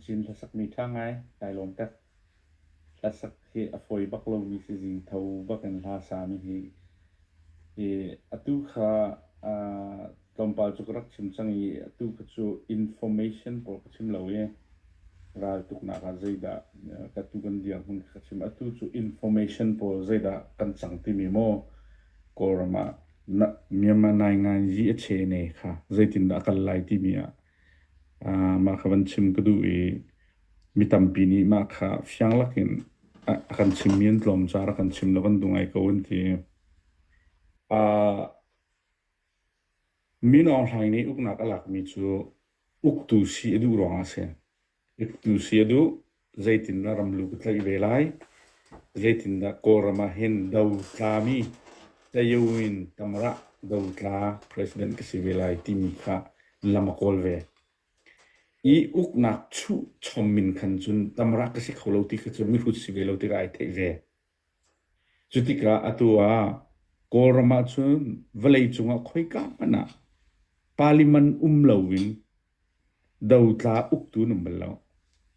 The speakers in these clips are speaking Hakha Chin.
Cin hlasakmi ṭha ngai kai lawm tak. Hlasak hi a fawi bak lomi sizing tho bak in hla sami hi Atu kha tlawmpal cu ka rak chim cang i atu kha cu information pawl ka chim lo i raltuknak ah zeidah ka tuu kan dirhmun kha ka chim. Atu cu information pawl zeidah kan cang timi maw Kawlram ah Myanmar naingai yi a chee ne kha zeitindah a kal lai timi ah mah kha van chim ka duh i Mi tampi nih mah kha fiang lakin a kan chimmi an tlawm caah rak kan chim lo an duh ngai ko an ti. Min Aung Hlaing nih uknak a lakmi cu uktu si a duh ruangah a si. Uktu si a duh, zeitindah ramluk a tlaih ve lai? Zeitindah Kawlram ah hin do tlami, tlayo in Tamrah do tla president ka si ve lai timi kha lam a kawl ve. I uknak chuh chom min khan cun tamra ka si kho lo ti kha cu mihrut si ve lo tikah ai theih ve. Cutikah atu ah Kawlram ah cun vawlei cungah khoika hmanh ah Parliament um loin dotla uktu an um bal lo.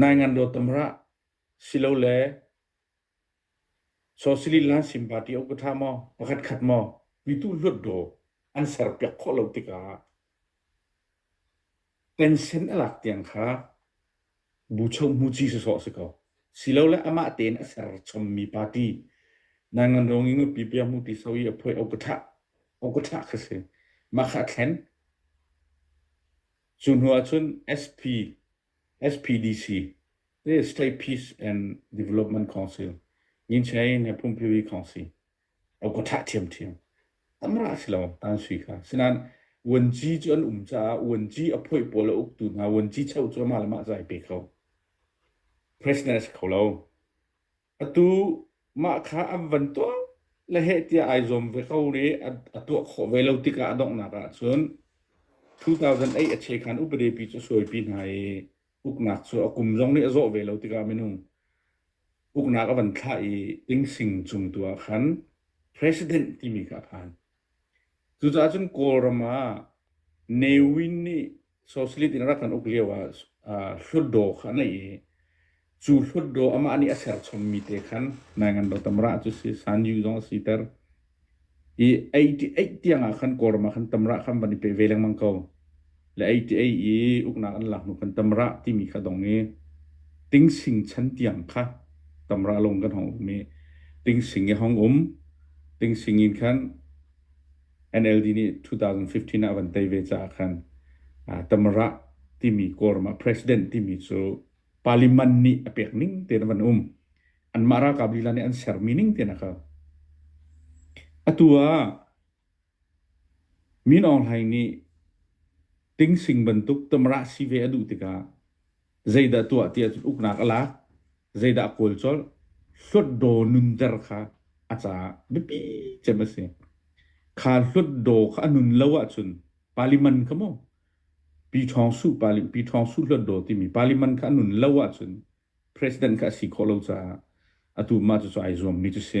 Nai ngan dawt tam rah, silole sosialist le nan sim party uk ka ṭha maw? Pakhat khat maw? Mitu hluat daw an serpiak khawh lo tikah pension a lak tiang kha bucho hmuci sawsawh a si ko. Silole amah tein a serchommi party nai ngan dawng i nupi bia hmu ti sau i a phuai uk ka ṭhah, uk ka ṭhah kha si. Mah kha a thlen. Cu hnu ah cun SP, SPDC, State Peace and Development Council, Yin Chae le Phungphiri Council, a ka thah ṭhiamṭhiam. Amah a si lo, an sui kha. Sinain Vuanci cu an um caah Vuanci a phoih pawl a uktu hna Vuanci cho cu amah le mah zai pe kho. President a si kho lo. Atu mah kha an van tuah le heh tiah ai zuam ve ko rih. A tuah khawh ve lo tikah a donghnak ahcun 2008 a chekhan upadepi cu sualpi hna i uknak cu a kum zong nih a zawh ve lo tikah minung uknak a van thlah i Tingsing cung tu ah khan president timi kha a phan. Cucaah cun Kawlram ah Newin nih Sosialist in a rak kan uk lio ah Hlutdaw kha a neih i cu Hlutdaw amah nih a serchommi te khan Naingan Dotamrah cu a si, Sanju zong a siter. I 80 tiang ah khan Kawlram ah khan Tamrah kha an van i peh ve lengmang ko. le ei ti ei i uknak an lak hnu kan tamrah timi kha dong i tingsing chan tiang kha tamrah lung kan hong um i tingsing i hong um tingsing in khan NLD nih 2015 ah van tei ve caah khan tamrah timi quorum ah president timi cu parliament nih a pek ning tein van um anmah ralkap lila nih an ser mi ning tein a kau atu ah Min Aung Hlaing nih tingsing bantuk tamrah si ve a duh tikah zeidah tuah tiah cun uknak a lak, zeidah a kawl colh, hlutdaw nunter kha a caah biapi cem a si. Kha hlutdaw kha a nun lo ahcun parliament kha mu Pi Ṭhawng Suh parli- Pi Ṭhawng Suh hlutdaw timi parliament kha a nun lo ahcun president kha a si khawh lo caah atu mah cucu ai zuammi cu si.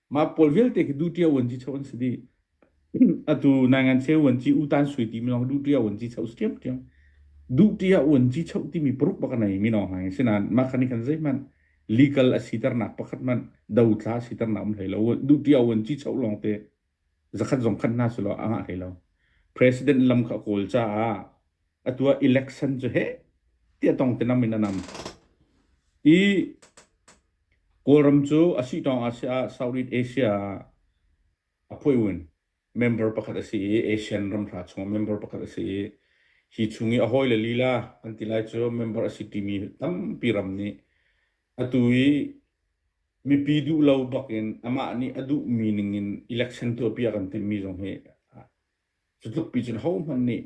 Mah pawl vialte khi du ṭia uan ci cho an si dih. Atu nangan cheu uan ci utan sui ti mi lawng du ṭia uan ci cho si ṭiam ṭiam. Du ṭia uan ci cho ti mi paruk bak nei mi lawng hang sinan mah khan khan zei man legal a si ternak pakhat man do thla si ternak um hlei lo du ṭia uan ci cho lawng te zakhat zong khan na silo anga hlei lo president lam kha kawl ca ah atu ah election cu heh tiah tong te nam in a nam i Kawlram cu a si tawng ah si ah Southeast Asia ah a phui win member pakhat a si i Asian ram hra chung member pakhat a si i hi chung i a hawi le lila an ti lai cu member a si timi tampi ram nih atu i mipi duh lo bak in amah nih a duh mi ning in election tuahpi a kan timmi zong hi Cutluk pi cun hohmanh nih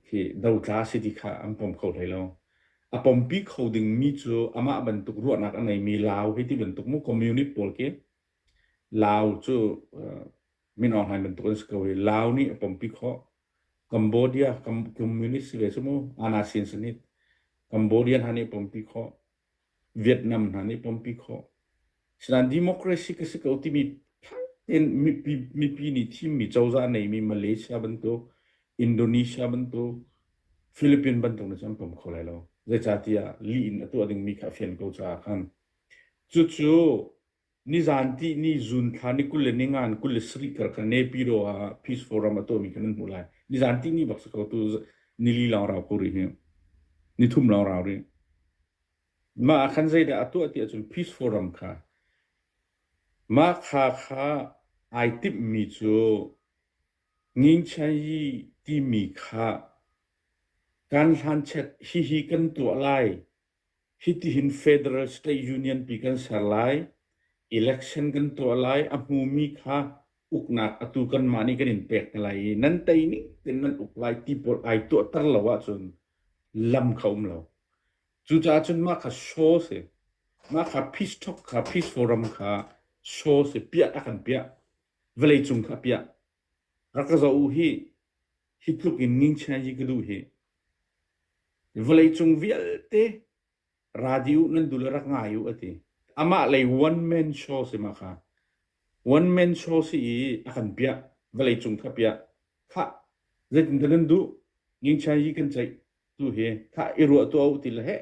hi dotla si ti kha an pom kho hlei lo. A pompi kho dingmi cu amah bantuk ruahnak a ngeimi Lau hei ti bantuk mu community pawl khi Lau cu min online bantuk an si ko i Lau nih a pompi khawh. Cambodia community si ve cu mu, Ana Sin Sanit. Cambodian hna nih a pompi khawh. Vietnam hna nih pompi khawh. Sinain democracy ka si ko timi fak tein mipi, mipi nih thimmi cozah a neimi Malaysia bantuk, Indonesia bantuk, Philippines bantuk nih cun pom kho lai lo. Zeicahtiah lih in a tuah dingmi kha a fian ko caah khan. Cucu Nizaan tih ni June thla ni kul le ningan kul le sarih kar kan nepi ro ah Peace Forum a tuahmi kan nan hmuh lai. Nizaan tih ni bak si ko tu nili lawng rau ko rih hi. Nithum lawng rau rih. Ma ah khan zeidah a tuah ti ahcun Peace Forum kha ma kha kha ai timhmi cu ngingchai timi kha kan hlan chet hihi kan tuah lai Hitihin federal state union pi kan ser lai. Election kan tuah lai. A hmumi kha uknak atu kanmah nih kan in pek hna lai i nan tei ning tein nan uk lai ti pawl ai tuahter lo ahcun lam kha um lo. Cucaah cun mah kha show si. Mah kha peace talk kha, peace forum kha show si. Piah a kan piah. Vawleicung kha piah. Rak ka zoh u hih. Hi tluk in ngingchia hi ka duh hih. Vawleicung vialte radio nan dul i rak ngai u a ti. Amah lei one man show si ma kha. One man show si i a kan piah. Vawleicung kha piah. Khah, zeitin dah nan duh? Ngingchia hi kan ceih tu hi. Khah, i ruah tuah u ti le heh.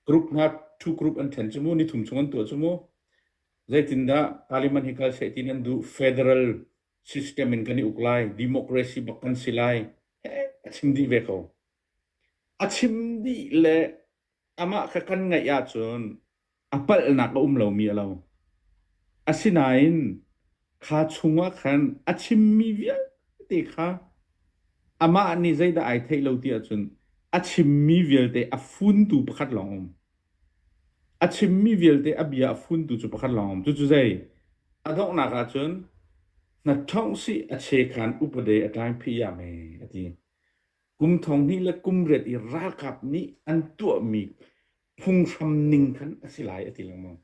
Group hna two group an ṭhen cu mu, ni thum chung an tuah cu mu. Zeitindah Parliament hi kal seh ti nan duh? Federal system in kan i uk lai, democracy bak kan si lai. He, a chim dih ve ko. A chim dih le amah kha kan ngaih ahcun a palhnak a um lomi a lo. Asinain kha chungah khan a chimmi vialte kha amah nih zeidah ai theih lo ti ahcun a chimmi vialte a funtu pakhat lawng um. A chimmi vialte a bia a funtu cu pakhat lawng um. Cucu zei? A donghnak ahcun na thong si a che khan upade a tlai phi ya me a ti. Kum thong hnih le kum riat i ralkap nih an tuahmi phunghram ning khan a si lai a ti lengmang.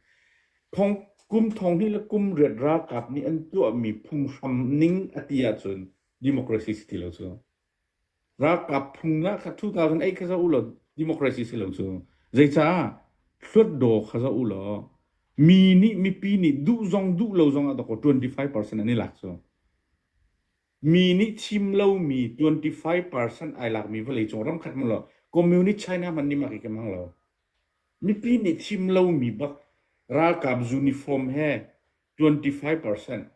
kum thong hi le kum riat ralkap nih an tuahmi phunghram ning a ti ahcun democracy si ti lo cu. Ralkap phung na kha 2008 kha za u law democracy si lo cu. Zeicah hluat daw kha za u law mi nih mipi nih duh zong duh lo zong ah dako 25% an i lak cu. Mi nih thim lomi twenty five percent ai lakmi vawleicung ram khat hmanh lo communist China hmanh nih mak i kem hang lo. Mipi nih thim lomi bak ralkap uniform he twenty five percent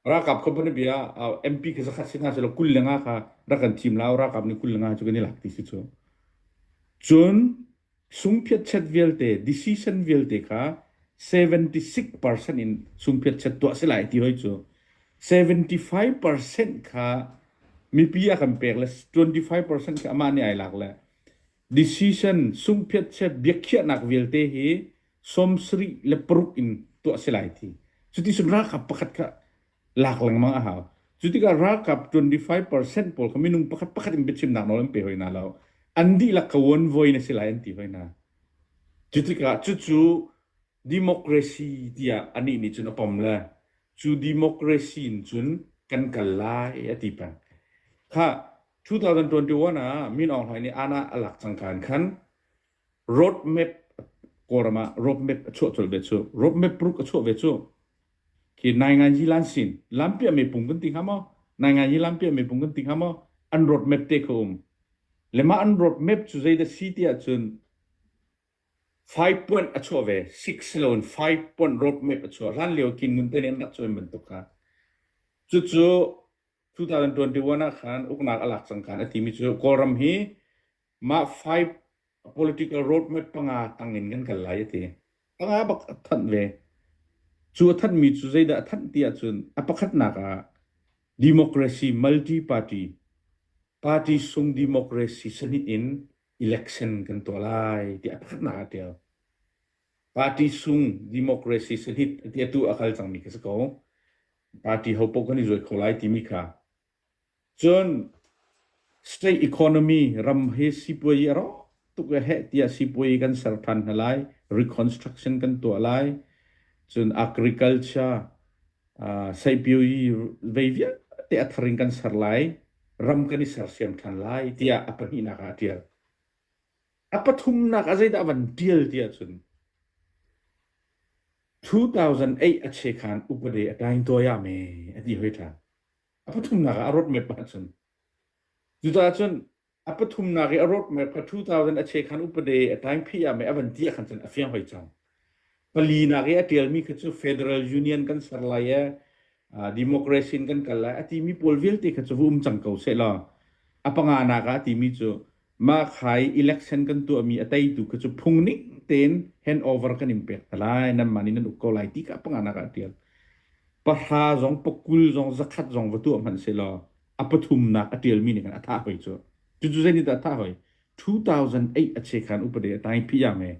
ralkap company bia MP khi zakhat si nga selo kul le nga kha rak kan thim lao ralkap nih kul le nga cu kan i lak ti si cu. Cun Sungphiatchet vialte, decision vialte kha 76 percent in sungphiatchet tuah si lai ti hoi cu 75 percent kha mipi a kan pek le 25 percent kha amah nih ai lak le decision sungphiatchet biakhiahnak vialte hi sawm sarih le paruk in tuah si lai thi cuti sun ra kha pakhat kha lak lengmang a hau. Cu tikah ralkap 25% pawl kha minung pakhat pakhat in biachimnak nawl an pe hoi hna lo. An dihlak ka uan voi na si lai an ti hoi hna. Cu tikah cucu democracy tiah anih nih cun a pom le cu democracy in cun kan kal lai a ti peng. Kha 2021 ah Min Aung Hlaing nih ANA a lak cangka in khan Roadmap ah roadmap a chuah colh ve cu. Roadmap paruk a chuah ve cu. Khi Nainganyi Lansin, Lampiah meipung kan ti hnga maw? Nainganyi Lampiah meipung kan ti hnga maw? An roadmap te kha um. Le mah an roadmap cu zeidah si ti ahcun five point a chuah ve. Six lo in five point roadmap a chuah. Hlan lio Kin Ngun te nih an rak chuah bantuk kha. Cucu 2021 ah khan uknak a lak cangkan a timi cu Kawlram hi Mah five political roadmap panga tangin kan kal lai a ti. Panga bak a thanh ve. Cu a thanmi cu zeidah a thanh ti ahcun a pakhatnak ah democracy multi-party party sung democracy sahnih in election kan tuah lai ti a pakhatnak ah a tial. Party sung democracy sahnih ti atu a kal cangmi ka si ko. Party hopoh kan i zuai kho lai timi kha Cun state economy ram hi sipuazi a rawk tuk a heh tiah sipuazi kan ser ṭhan hna lai. Reconstruction kan tuah lai. Cun agriculture, uh, seipuazi vei vialte a thar in kan ser lai. Ram kan i sersiam ṭhan lai tiah a pahnihnak ah a ṭial. A pathumnak ah zeidah a van ṭial ti ahcun 2008 a chekhan upade a ṭaing tuayame a ti hoi ṭhan. A pathumnak ah a roadmap pakhat a si. Cucaah cun a pathumnak i a roadmap kha 2000 a cheh khan upade a taingphi ah mei a van ti ah khan cun a fiang hoi cang. Palinak i a ṭialmi khi cu Federal Union kan ser lai i democracy in kan kal lai a timi pawl vialte kha cu va um cang ko seh law a panganak ah a timi cu Mahkai election kan tuahmi a teitu kha cu phungning tein handover kan in pek hna lai. Nanmah nih nan uk ko lai ti ka panganak ah tial. Pahra zong pakul zong zakhat zong va tuah hmanh se law a pathumnak a tialmi nih khan a tha hoi cu. Cucu zeinih dah a tha hoi? 2008 a chekhan upade a tai pi yang e.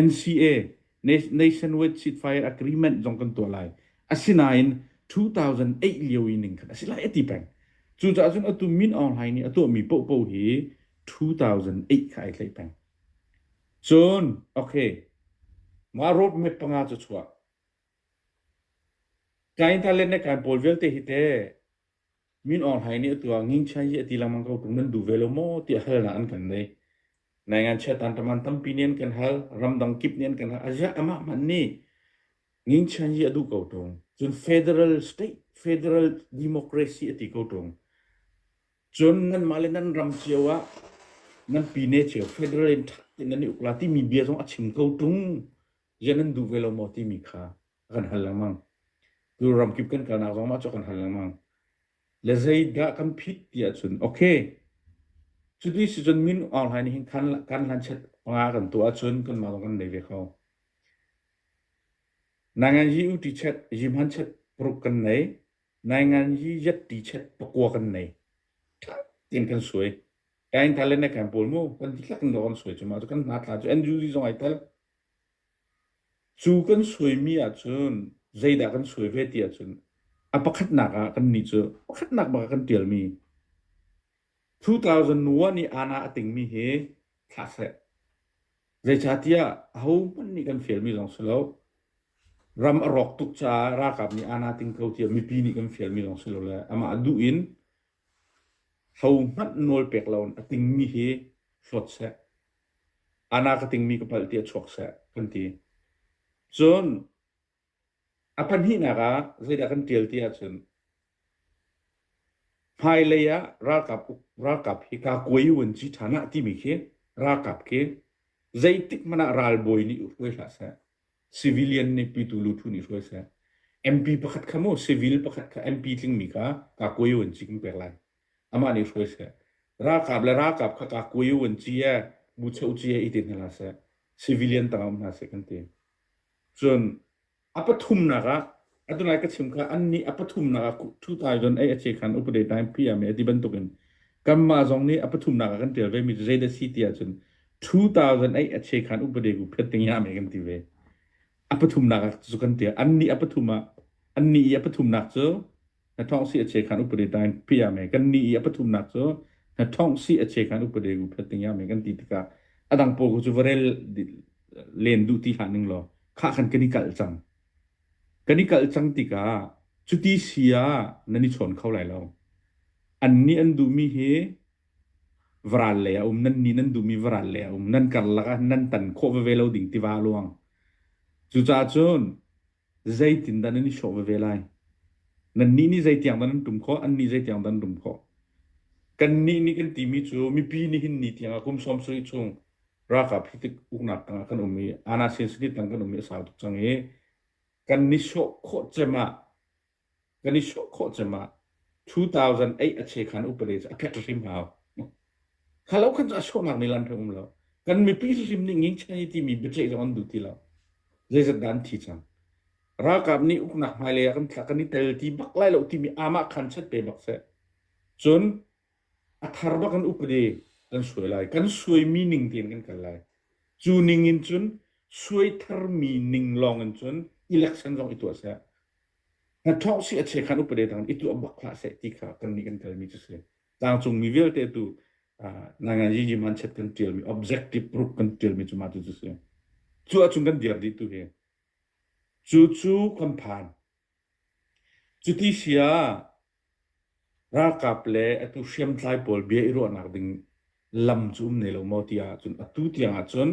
NCA Nationwide ceasefire agreement zong kan tuah lai. Asinain 2008 lio i ning khan a si lai a ti peng. Cucaah cun atu Min Aung Hlaing nih a tuahmi pohpoh hi 2008 kha ai tlaih peng. Cun, okay, mah roadmap panga cu chuah. Kain Talen le Kain Paul vialte hi te Min Aung Hlaing nih atu ah Nging Chian hi a ti lengmang ko ṭung nan duh ve lo maw tiah halnak an kan nei. Nai ngachiat tan taman tampi nih an kan hal, ramdang kip nih an kan hal. A ziah amah hmanh nih Nging Chian hi a duh ko ṭung. Cun federal state, federal democracy a ti ko ṭung. Cun nanmah le nan ram cio ah nan pine cio federal in ṭhat in nan i ukla timi bia zong a chim ko ṭung. Ziah nan duh ve lo maw timi kha. a kan hal lengmang. Tu ramkip kan kalnak zong mah cu kan hal lengmang. Le zeidah kan phit ti ahcun, okay, cuti si cun min online hin kan kan hlan chet nga kan tu ahcun kan mah zong kan nei ve kho. Nangan hi uti chet jimhan chet puruk kan nei. Nangan hi yetti chet pakua kan nei. Tin kan suai. Ain talen ne kan pol mu, kan tiklak kan kan suai cuma, kan na tla cu end user zong ai tal. Cu kan suaimi ahcun zeidah kan suai ve ti ahcun a pakhatnak ah kannih cu pakhatnak bak ah kan ṭialmi two-thousand-one i ANA a tingmi hi thla seh. Zeicahtiah ahohmanh nih kan fialmi zong si lo, ram a rawk tuk caah ralkap nih ANA ting ko tiah mipi nih kan fialmi zong si lo le amah a duh in Hlo hmanh nawl pek loin a tingmi hi hlawt seh, ana ka tingmi ka palh tiah chuak seh kan ti. Cun a pahnihnak ah zeidah kan ṭial ti ahcun hmailei ah ralkap ralkap hi kaa kuai u an si ṭhan ah timi khi ralkap khi zeitik hmanh ah ralbawi nih hruai hlah seh. Civilian nih pitu lutu nih hruai seh. MP pakhat kha maw civil pakhat kha MP tlingmi kha Kakwe U an ci kan pek lai. Amah nih hruai seh. Ralkap le ralkap kha Kakwe U an ci e, Bucho ci e i ti hna hlah seh. Civilian tang um hna seh kan ti. Cun a pathumnak ah Atunai ka chim ka an nih a pathumnak ah 2008 a ce khan update 9 pm e ti bantukin kanmah zong nih a pathumnak ah kan tial ve mi cu zeidah si ti ahcun 2008 a ce khan update ku phet ding ya me kan ti ve a pathumnak ah cu kan tial an nih a pathum ah an nih i a pathumnak cu na thong si a ce khan update 9 pm e kan nih i a pathumnak cu na thong si a ce khan update ku phet ding ya me kan ti tikah a dang pawl ku cu va rel len duh ti han ning law khah khan kan i kalh cang Kan i kalh cang tikah cuti si ah nan i chawn kho lai lo. An nih an duhmi hi varal lei a um, nan nih nan duhmi varal lei a um, nan karlak ah nan tan khawh veve lo ding tiva luang. Cucaah cun zeitindah nan i hrawh veve lai? Nan nih nih zeitiang dah nan tum khawh, an nih zeitiang dah nan tum khawh? Kan nih nih kan timi cu mipi nih hin ni tiang a kum sawm sarih chung ralkap hritik uknak tangah kan um i Anasin City tang kan um i a sau tuk cang i kan ni sawh khawh cem ah kan i sawh khawh cem ah 2008 a che khan upade cu a phet hrim hau kha lo khan cu a sawhnak ni lan hrim um lo kan mipi hrim nih ngingchang i timi biaceih zong an duh ti lo zeizat dah an thi cang ralkap nih uknak hmailei ah kan kan i tel ti bak lai lo timi amah khan chat pe bak seh cun A thar bak an upade kan suai lai. Kan suaimi ning tein kan kal lai. Cu ning in cun suai tharmi ning lawng in cun election zong i tuah seh. Na thongh si a che khan upade tang i tuah bak hlah seh ti kha kan nih kan kalmi cu si. Tlangcungmi vialte tu nangan Yi Manchet kan ṭialmi objective proof kan ṭialmi cu mah tu cu si. Cu ahcun kan dir dih tu hi. Cu cu kan phan. Cuti si ah ralkap le atu hriamtlai pawl bia i ruahnak ding lam cu um ne lo maw tiah cun atu tiang ahcun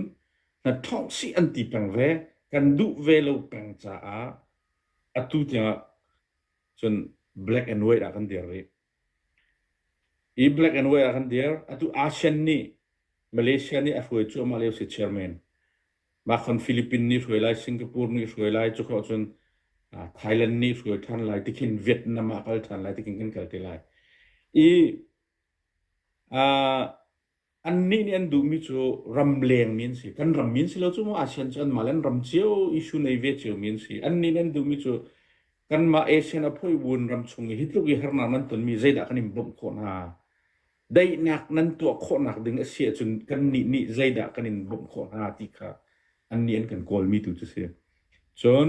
na ṭhawng sih an ti peng ve. Kan duh ve lo peng caah atu tiang ah cun black and white ah kan dir rih. Hi Black and White ah kan dir. Atu ASEAN nih Malaysia nih a hruai cuahmah lio si chairman. Mah khon Philippines nih hruai lai, Singapore nih hruai lai. Cu khawh cun Thailand nih hruai ṭhan lai. Tikhin Vietnam ah kal ṭhan lai. Tikhin kan kal te lai. I aa Annih nih an duhmi cu ramleng mi an si. Kan ram mi an si lo cu maw ASEAN cu anmah le an ram cio issue nei ve cio mi an si. Annih nih an duhmi cu kanmah ASEAN a phoihbuun ram chung i hitluk i harnak nan tonmi zeidah kan in bawmh khawh hna? Daihnak nan tuah khawhnak ding a si ahcun kannih nih zeidah kan in bawmh khawh hna ti kha annih an kan kawlmi tu cu si. Cun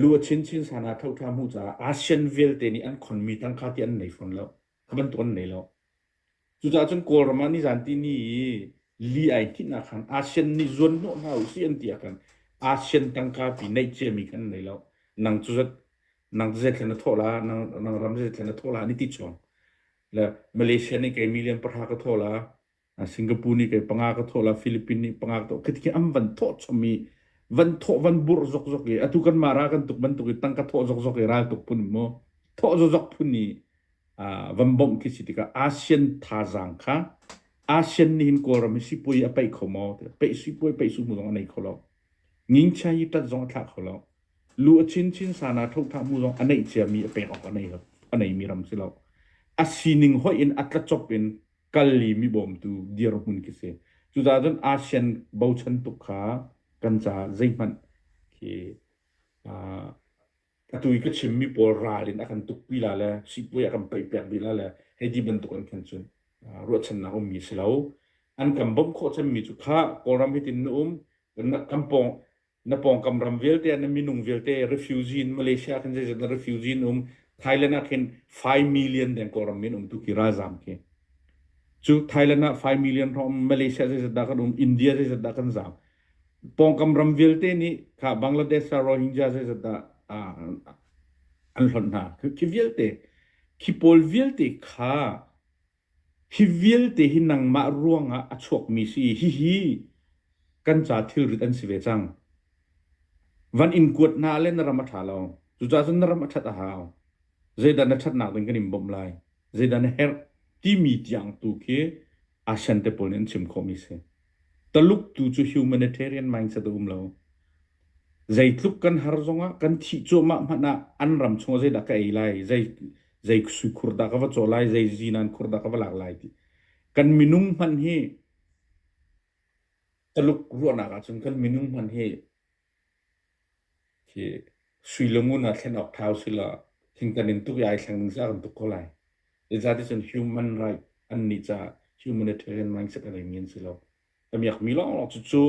lu a chinchin san ah thoṭha hmuh caah ASEAN vialte nih an khonmi tangka ti an nei fawn lo. Kha bantuk an nei lo. Cucaah cun Kawlram ah nizanti ni i li ai hnihnak khan ASEAN nih zuan hnawh hna u sih an ti ahkhan ASEAN tangka pi neih ciami kha an nei lo. Nang cu zat nang zeithle na thawh la, nang, nang ram zeithle na thawh la, ni ti chuang. Le Malaysia nih kei million pahra ka thawh la, Singapore nih kei panga ka thawh la Philippines nih panga ka thawh khi an van thawh chom i van thawh van burh zokzok i atu kanmah ra kan tuk bantuk i tangka thawh zokzok i ral tuk phun mu thawh zokzok phun i van bawmh khi si tikah ASEAN thazaang kha ASEAN nih hin Kawlram hi sipuai a peih kho maw peih sipuai peih su mu zong a nei kho lo ngingchia hi tat zong a thlah kho lo lu a chin chin sana thothah mu zong a neih ciami a pek awk a nei lo a neimi ram si lo a sining hoih in a tlachop in kal i mi bawmtu dirhmun khi si. Cucaah cun ASEAN bochan tuk kha kan caah zeihmanh khi uh, atu i ka chimmi pawl ral in a kan tukpi la le sipuai a kan peihpiak rila le hei ti bantuk an khan cun uh, ruahchannak ummi si lo. An kan bawmh khawh cemmi cu kha Kawlram hitin na um kan, kan pawng Na pawngkam ram vialte ah na minung vialte refugee in Malaysia ah khin zeizat na refugee in um Thailand ah khin 5 million deng Kawlram min um tu ki ralzam khi cu Thailand ah 5 million rom Malaysia zeizat dah kan um India zeizat dah kan zam pawngkam ram vialte nih kha Bangladesh ah Rohingya zeizat dah an hlon hna khi vialte khi pawl vialte kha Hi vialte hi nangmah ruangah a chuakmi si i hihi kan ca thilrit an si ve cang. Van in kuat hna le na ram a ṭha lo. Cucaah cun na ram a ṭhat a hau. Zeidah na ṭhatnak ding kan in bawmh lai? Zeidah na herh? timi tiang tu khi asian te pawl nih an chim khawhmi si. Taluk tu cu humanitarian mindset a um lo. Zeitluk kan har zongah kan thih cuahmah hmanh ah an ram chungah zeidah ka ei lai, zei, zei suikhur dah ka va caw lai, zei zinan khur dah ka va lak lai ti. Kan minung hmanh hi Taluk ruahnak ahcun kan minung hmanh hi Hi suilangun ah thlen awk thau si loah thingtan in tuk i ai thleng ding cu a kan tuk ko lai. Zezaticun human right annih caah humanitarian mindset a nei men si lo. Ka miakmi lawnglawng cu cu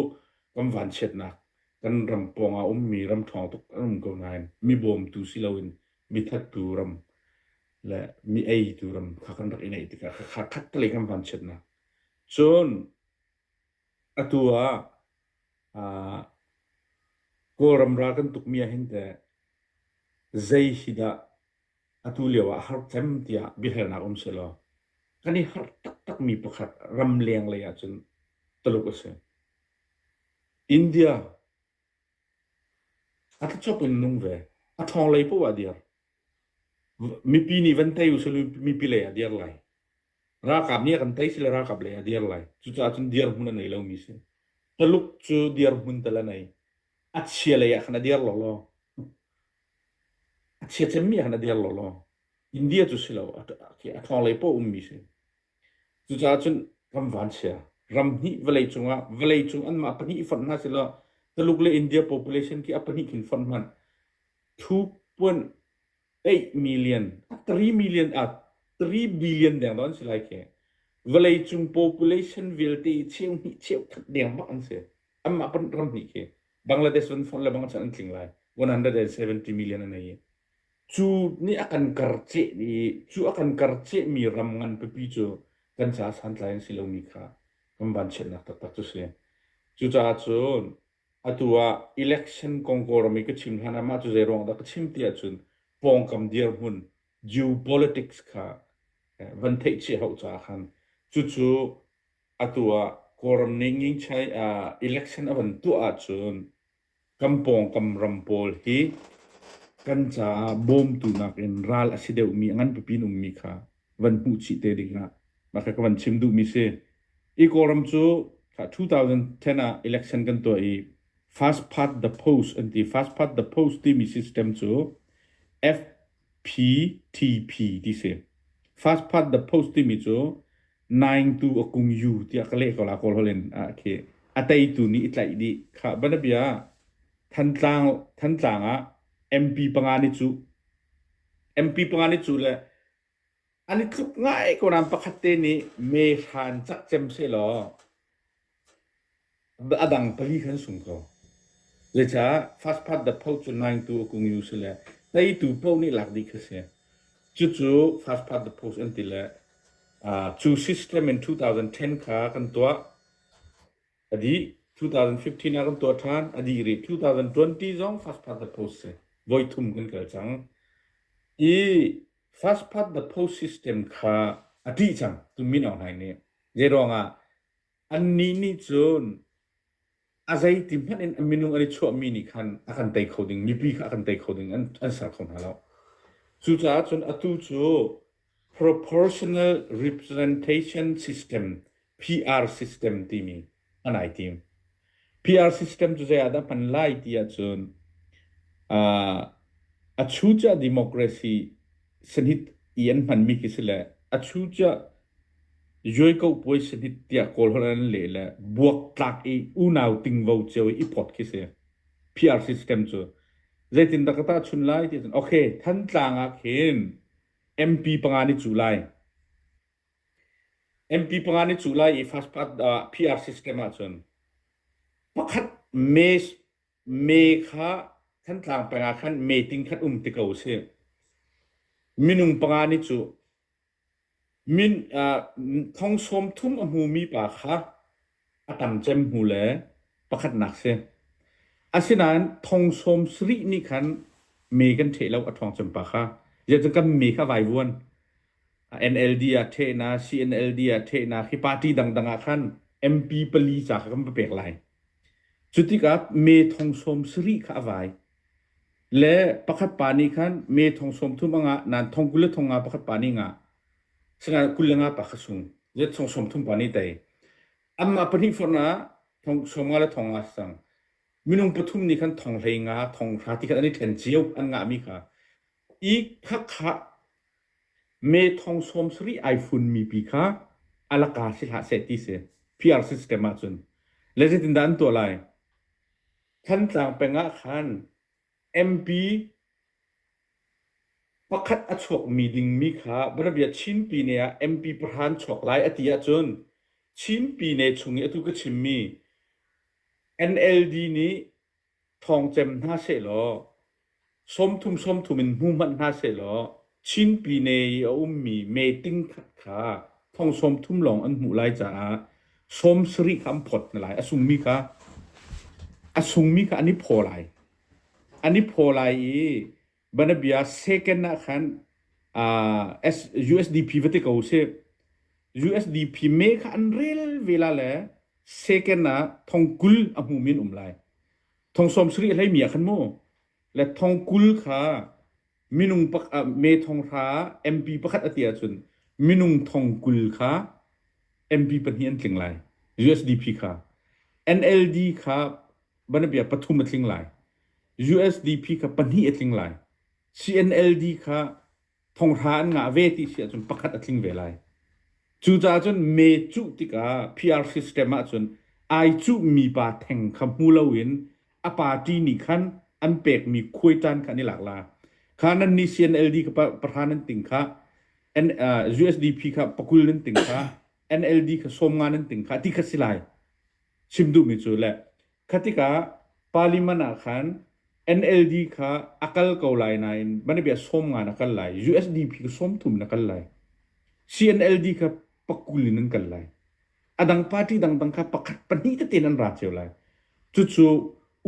kan vanchiatnak, kan ram pawng ah ummi ram ṭhawng tuk an um ko nain mi bawmtu si loin mi thattu ram le mi eitu ram kha kan rak i ngeih tikah kha khattelei kan vanchiatnak. Cun Atu ah aa Kawlram ral kan tukmi ahhin teh zei hi dah atu lio ah a har cem tiah biahalnak um sehlaw kan i harh taktakmi pakhat ramleng lei ahcun Tuluk a si. India a thluachuak in nung ve. A ṭhawng lei paoh ah a dir. Mipi nih van tei usih law mipi lei ah a dir lai. Ralkap nih a kan tei si le ralkap lei a dir lai. Cucaah cun dirhmun a nei lomi si. Taluk cu dirhmun tal a nei. A chia lei ah khan a dir lawlaw. A chia cemmi ah khan a dir lawlaw. India cu si lo. A a thawnglei paoh ummi si. Cucaah cun kan van chia. Ram hnih vawlei cungah vawlei cung anmah pahnih fonh hna si law Taluk le India population khi a pahnih khin fonh hmanh. Thu puan 8 million, 3 million, ah 3 billion deng don si lai ke. Vawlei cung population vialte cheu hnih cheu khat deng mak an si. Amma pan ram hnih ke. Bangladesh van fon le bang chan an tling lai. 170 million an ai. Cu ni akan karce ni, cu akan karce mi ram ngan pipi cu kan ca san tlai an si lo mi kha. Kan ban chet nak tak tak cu si. Cucaah cun Atu ah election kong Kawlram i ka chim hlan ah mah cu zeiruang dah ka chim ti ahcun pawngkam dirhmun geopolitics kha eh, van theihchih hau caah khan cucu atu ah Kawlram nih ngingchai ah election a van tuah ahcun kan pawngkam ram pawl hi kan caah bawmtu nakin ral a si deuhmi a ngan pipi in ummi kha van hmuh chih te dingah mah kha ka van chim duhmi si. I Kawlram cu 2010 ah election kan tuah i Fast Path the Post an ti. Fast Path the Post timi system cu FPTP ti si. Fast Path the Post timi cu naingtu a kung yu tiah ka leh ko la Kawl holh in a khi. A teitu nih i tlaih dih. Kha banabia ah Thantlang Thantlang ah MP panga ni cu MP panga ni cu le An i tluk ngai ko nain pakhat te nih mehra an cah cem sehlaw a dang pali kha an sung ko. Zeicah fast food dapho cu naitu a kung u si le teitu paoh nih lak dih kha a si. Cucu fast food daphoes an ti le uh, cu system in 2010 kha kan tuah. A dih 2015 ah kan tuah ṭhan. A dih rih 2020 zong fast food daphoes a si. Voi thum kan kal cang. I First past the post system kha a ṭih cang tumino hna nih. Zeiruangah annih nih cun a zeiti hmanh in a minung an i chuahmi nih khan a kan tei kho ding mipi kha a kan tei kho ding an, an ser kho hna lo. Cucaah cun atu cu proportional representation system PR system timi hman ai tim. PR system cu zei ah dah hman lai ti ahcun uh, a chu ca democracy sanit i an hmanmi khi si le a chu ca yoiko puai sanit tia kawl hon an le le buak tlak i unau tingvo cio i pot khi si PR system cu zeitin dak ta chun lai ti okay than tlang ah khin MP panga ni cu lai MP panga nih cu lai i first part ah PR system ahcun pakhat May May kha Thantlang peng ah khan meeting khat um ti ko si minung panga nih cu min uh, thong sawm thum a hmumi pa kha a tam cem hnu le pakhatnak si. Asinain thong sawm sarih nih khan me kan ṭheh lo a ṭhawng cem pa kha. Ziah kan me kha vai vuan. NLD ah ṭhehna, CNLD ah ṭhehna, khi party dangdang ah khan MP pali ca kha kan va pek lai. Cu tikah me thong sawm sarih kha a vai. Le pakhat pa nih khan me thong sawm thum a ngah, nain thong kul le thong nga pakhat pa nih ngah. Sangah kul le nga pa kha sung. Zet song sawm thum pa nih tei. Amah pahnih fornak thong sawm nga le thong nga sang. Minung pathum nih khan thong hlei nga, thong hra ti khan an i ṭhen cio an ngah mi kha. I phakha me thong sawm sarih ai funmi pi kha alaka si hlah seh ti si. PR system ah cun. Le zeitindah an tuah lai? Thantlang peng ah khan MP pakhat a chuakmi dingmi kha Bianabia Chinpine ah MP pahra an chuak lai a ti ahcun Chinpine chung i atu ka chimmi NLD nih thawng cem hna sehlaw sawmthum sawmthum in hmu hmanh hna sehlaw Chinpine i a ummi meeting khat kha thong sawmthum lawng an hmuh lai caah sawm sarih kha an phawt hna lai. A sungmi kha a sungmi kha an i phaw lai. An i phaw lai i banabia second ah khan uh, USDP va ti ko sih. USDP me kha an rel vela le second ah thong kul a hmumi an um lai. Thong sawm sarih hleimi ah khan mu le thong kul kha minung pak ah me thong hra MP pakhat a ti ahcun minung thong kul kha MP pahnih an tling lai USDP kha NLD kha banabia pathum a tling lai USDP kha pahnih a tling lai CNLD kha thonghra an ngah ve ti si ahcun pakhat a tling ve lai cu caah cun me cuh tikah PR system ahcun ai cuh mi pa theng kha hmu loin a party nih khan an pekmi khuaitan kha an i lak la kha nan nih CNLD ka pahra nan ting kha USDP kha pakul nan ting kha NLD kha sawmnga nan ting kha ti kha si lai chim duhmi cu le khatika parliament ah khan NLD kha akal ko lai nain mana bia sawmnga na kal lai USDP kha sawm thum na kal lai CNLD kha pakul in an kal lai a dang party dangdang kha pakhat pahnih tete nan ra cio lai cucu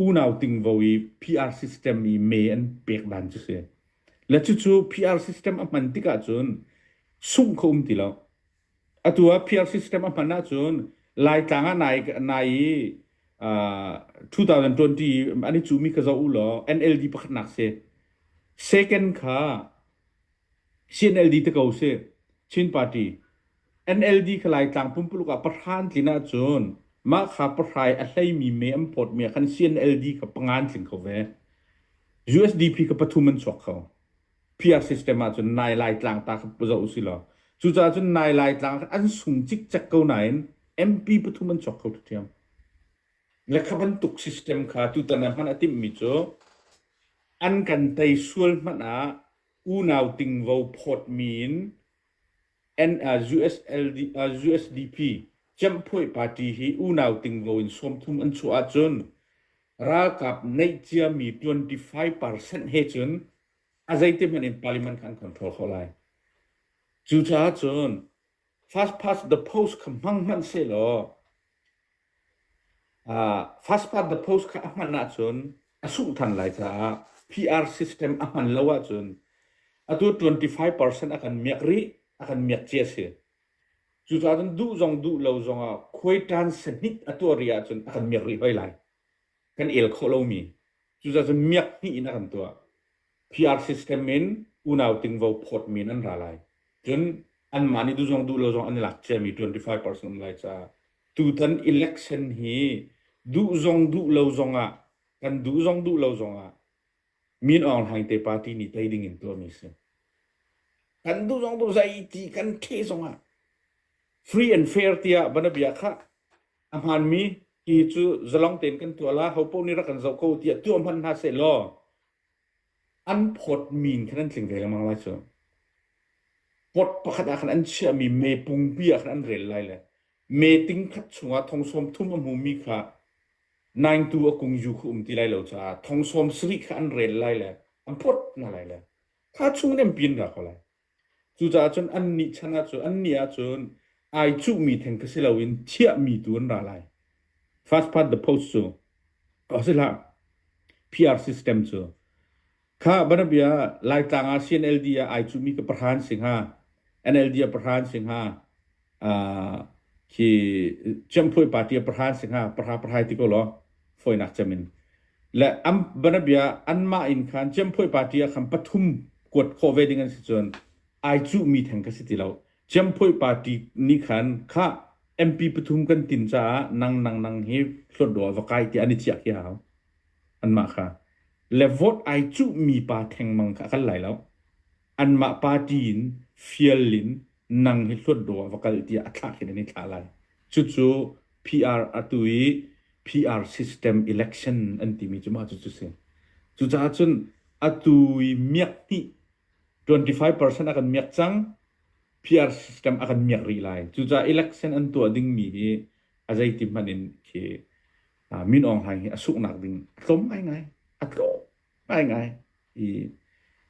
unau tingvo i PR system i me an pek dan cu si le cucu PR system a hman tik ahcun sungh kho um ti lo atu ah PR system a hman ahcun laitlang ah nai nai i uh, 2020 an i cumi kha zoh u law NLD pakhat nak si second kha CNLD ti ko sih, Chin Party. NLD kha Laitlang pumpuluk ah pahra an tlin ahcun mah kha pahrai a hleimi me an phawtmi ah khan CNLD kha panga an tling kho ve. USDP kha pathum an chuak kho. PR system ahcun nai Laitlang ta kha zoh usilaw. Cucaah cun nai Laitlang an sung cikcek ko nain MP pathum an chuak kho ṭhiam. Le kha bantuk system kha tutan ah hman a timhmi cu an kan tei sual hmanh ah unau tingvo phawtmi in USDP Ciamphuai Party hi unau tingvo in sawmthum an chuah ahcun ralkap neih ciami 25% he cun a zeiti hmanh in parliament kha an control khawh lai. Cucaah cun Fastpass the post kha hmang hmanh sehlaw uh, fastpass the post kha a hman ahcun a sungh than lai caah PR system a hman lo ahcun atu 25% a kan miak rih a kan miak ci a si cucaah cun duh zong duh lo zong ah khuaitan sahnit a tuah rih ahcun a kan miak rih hoi lai kan el khawh lomi cuzacun miak hnih in a kan tuah PR system in unau tingvo phawt men an ra lai cun anmah nih duzong duh lo zong an i lak ciami 25% um lai caah tutan election hi duh zong duh lo zong ah kan duh zong duh lo zong ah min aung hlaing te party nih tei ding in tuahmi si kan duh zong duh zeiti kan ṭhe zong ah free and fair tiah banabia khah A hmaanmi hi cu zalong tein kan tuah la, hopaoh nih rak kan zoh ko tiah tuah hmanh hna seh law an phawt min khan an tling ve lengmang lai cu. Pot pakhat ah khan an chiahmi me pungpi ah khan an rel lai le me ting khat chungah thongsawm thum a hmumi kha naingtu a kung yu khu um ti lai lo caah thongsawm sarih kha an rel lai le an phawt hna lai le kha chung in an pin ra ko lai. Cucaah cun annih chan ah cun annih ahcun ai cuhmi theng kha si loin chiahmi tu an ra lai. First past the post cu ko si hlah PR system cu kha banabia Laitlang ah CNLD ah ai cuhmi ka pahra an si hnga NLD ah pahra an si hnga khi ciamphuai party a pahra an si hnga pahra pahra ti ko law fawinak cem in le an banabia anmah in khan ciamphuai party ah khan pathum kuat khawh ve ding an si cun ai cuh mi theng ka si ti lo ciamphuai party nih khan kha MP pathum kan tin caah nang nang nang hi hlawt dawh va kai ti an i chiah khi hau anmah kha le vote ai cuhmi pa thengmang kha a kal lai lo. Anmah party in fial in nang hi hluat dawh ah va kal tiah a thlahhin an i thlah lai. Cucu PR atu i PR system election an timi cu mah cucu si. Cucaah cun atu i miak hnih 25% a kan miak cang. PR system a kan miak rih lai. Cucaah election an tuah dingmi hi a zeiti hmanh in khi Min Aung Hlaing hi a sunghnak ding a tlawm ngaingai. A tlawm ngaingai. I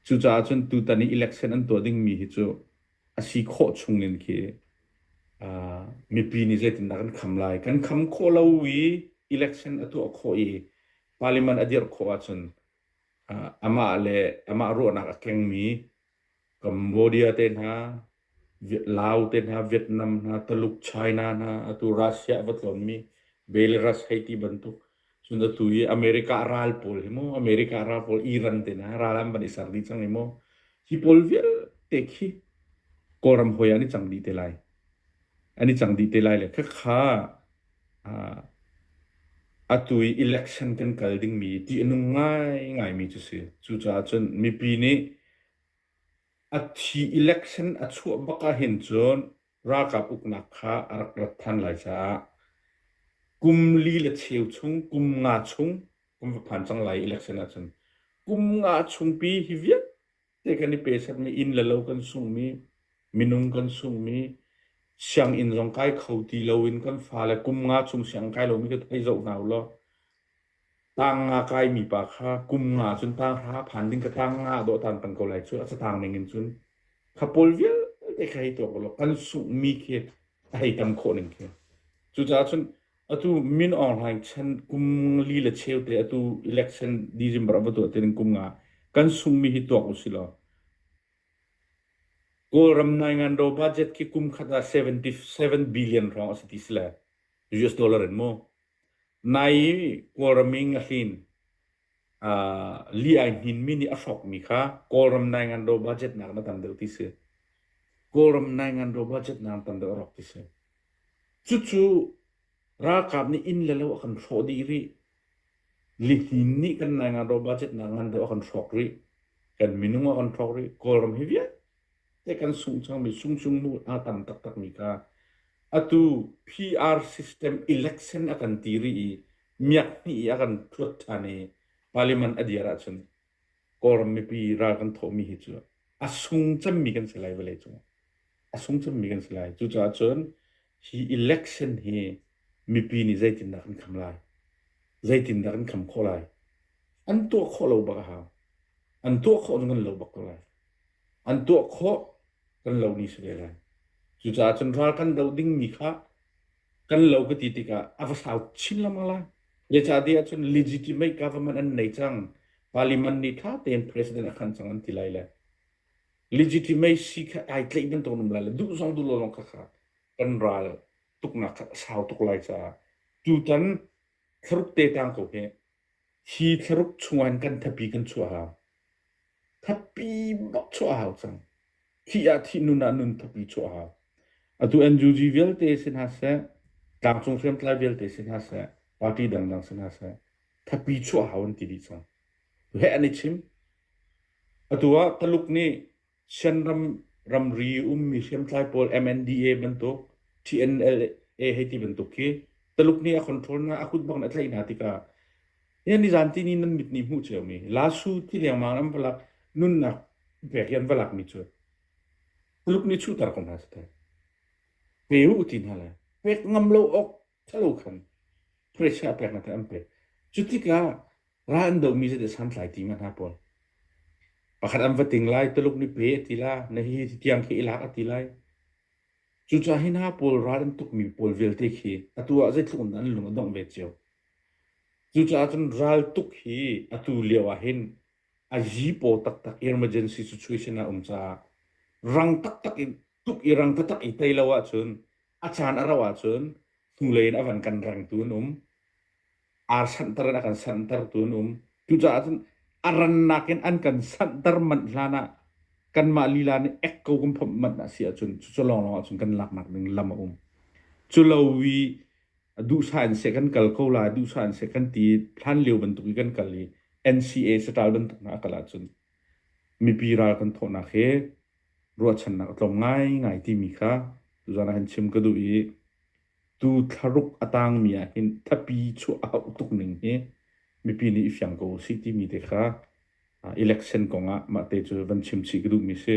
cucaah cun tutan i election an tuah dingmi hi cu a si khawh chungin khi uh, mipi nih zeitindah kan kham lai kan kham khawh lo i election a tuah khawh i parliament a dirh khawh ahcun uh, amah le amah ruahnak a kengmi Cambodia te hna, Laos te hna, Vietnam hna, Taluk China hna, atu Russia a va tlonmi Belarus hei ti bantuk. Cun atu hi America ral pawl hi mu, America ral pawl Iran te hna ral an van i ser dih cang i mu. Hi pawl vialte khi Kawlram hoi ah an i cang dih te lai. An i cang dih te lai le khakha Atu i election kan kal dingmi tih a nung ngaingaimi cu si. Cucaah cun mipi nih a thi election a chuah bak ahhin cun ralkap uknak kha a rak rat than lai caah kum li le cheu chung, kum nga chung, kum va phan cang lai i election ahcun. Kum nga chung pi hi vialte Hi kan i pesakmi inn le lo kan sungmi, minung kan sungmi, sianginn zong kai kho ti loin kan fale kum nga chung siang kai lomi ka thei zoh hna ulaw tang nga kaimi pa kha kum nga cun tang hra phan ding ka tang nga dawh tan pang ko lai cu a satang ning in cun khapol vialte kha hei tuak ulaw kan sunghmi khi a hei tam khawh ning khi cucaah cun Atu Min Aung Hlaing chan kum li le cheu te atu election December a va tuah tining kum nga kan sungmi hi tuak u silaw Kawlram naingan ro budget ki kum khat ah 77 billion hrong a si ti si le US dollar in mu. Nai Kawlram in a hlin uh, li ai hnin mi nih a hrok mi kha Kawlram Naingan do budget nak na tam deuh ti si Kawlram Naingan do budget nak tam deuh rok ti si cu cu ralkap nih inn le lo a kan hrawh dih rih li hnin nih kan Naingan do budget nak ngan deuh a kan hrawk rih kan minung a kan hrawk rih Kawlram hi vialte te kan sung chang mi sung sung mu a tam tak tak mi ka atu PR system election a kan ti ri i miak hnih i a kan phuat ṭhan i Parliament a dir ahcun Kawlram mipi ral kan thawhmi hi cu a sung cemmi kan si lai vawleicung ah a sung cemmi kan si lai cucaah cun hi election hi mipi nih zeitindah kan kham lai zeitindah kan kham khawh lai an tuah khawh lo bak a hau an tuah khawh cun kan lo bak ko lai an tuah khawh kan lo ni si ve lai cucaah cun ral kan do dingmi kha kan lo ka ti tikah a va fau chin lengmang lai. Zeicahtiah ahcun legitimate government an nei cang. Parliament nih ṭha tein president a khan cang an ti lai le legitimacy kha ai tleih bantuk um lai le duh zong duh lo lawng kha kha kan ral tuknak kha a sau tuk lai caah tutan thlaruk te tang ko hi Hi thlaruk chungah hin kan thapi kan chuah a hau. Thatpi bak chuah a hau cang. Thih ah thih, nun ah nun thapi chuah a hau. Atu NUG vialte si hna seh, tlangcung hriamtlai vialte si hna seh, party dangdang si hna seh, thapi chuah a hau an ti dih cang. Heh an i chim. Atu ah Taluk nih Shanram ramri ummi hriamtlai pawl MNDA bantuk TNLA hei ti bantuk khi Taluk nih a control na a kut bak in a tlaih hna tikah hian nizan ti ni nan mit nih hmuh cio mi Lasu ti lengmang an va lak nunnak pek hi an va lak mi cu Tuluk nih chuhter ko hna seh teh pe u ti hna lai pek ngam lo awk Thalo khan thluachuah a pek hna tiah an pek. Cu tikah ra an domi zeite santlai ti ma hna pawl. Pakhat an va ting lai, Tuluk ni pe a ti la, na hi hi tiang khi i lak a ti lai. Cucaah hi hna pawl ral an tukmi pawl vialte khi atu ah zeitluk in an lung a dongh ve cio. Cucaah cun ral tuk hi atu lio ah hin a zipaw taktak emergency situation a um caah rang taktak in tuk i rang taktak i tei lo ahcun A caan a rauh ahcun hnulei in a van kan rengtu an um. Ar sanhter in a kan sanhtertu an um. Cucaah cun a rannak in an kan sanhter manh hlan ah kanmah lila nih ek ko kan phomh manh a si ahcun cucu lawnglawng ahcun kan laknak ding lam a um. Culo i duhsah in se kan kal ko la, duhsah in se kan ti hlan lio bantuk i kan kal i NCA satal bantuk na a kal ahcun mipi ral kan thawhnak hi ruahchannak a tlawm ngaingai timi kha tuzaan ah khan chim ka duh i tu thlaruk a tangmi ah hin thlapi chuah a hauh tuk ning hi mipi nih i fiang ko usih timi te kha election kong ah mahte cu van chim chih ka duhmi a si.